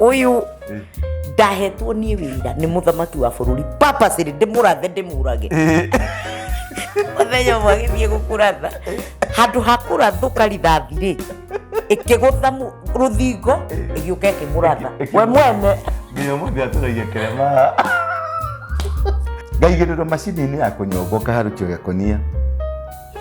uyu ndahetwo nie wira ni muthamaki wa bururi papaciri ndimurathe ndimurage muthenya umwe agithie gukuratha handu ha kurathuka rithathi ri ikigutha mu- ruthingo igiuka ikimuratha we mwene nginya muthi aturagia kirema ngaigiriro macini-inĩ ya kũnyonga ũkaharũkio gĩkonia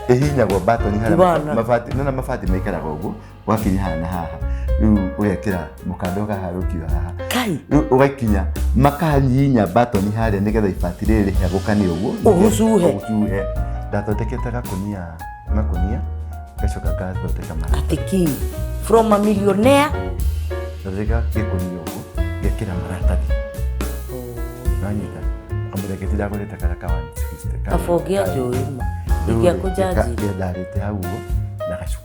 ĩhihinyagwo mbatoni harĩa Bana. mabati nona mabati maikaraga ũguo wakinya haha na haha riu ugekira mukanda ugaharukio haha kai riu ugakinya makahihinya batoni haria nigetha ibati riri rihagukane uguo Ũgucuhe. ugucuhe ndathondekete gakunia makunia ngacoka ngathondeka mara atiki from a millionaire thondeka gikunia uguo ngekira maratathi nanyita amureketi ndagurite kara ka 160 kaba ũngĩanjũĩ ma ingĩakũnjanjire ndarite hau uguo na gacuku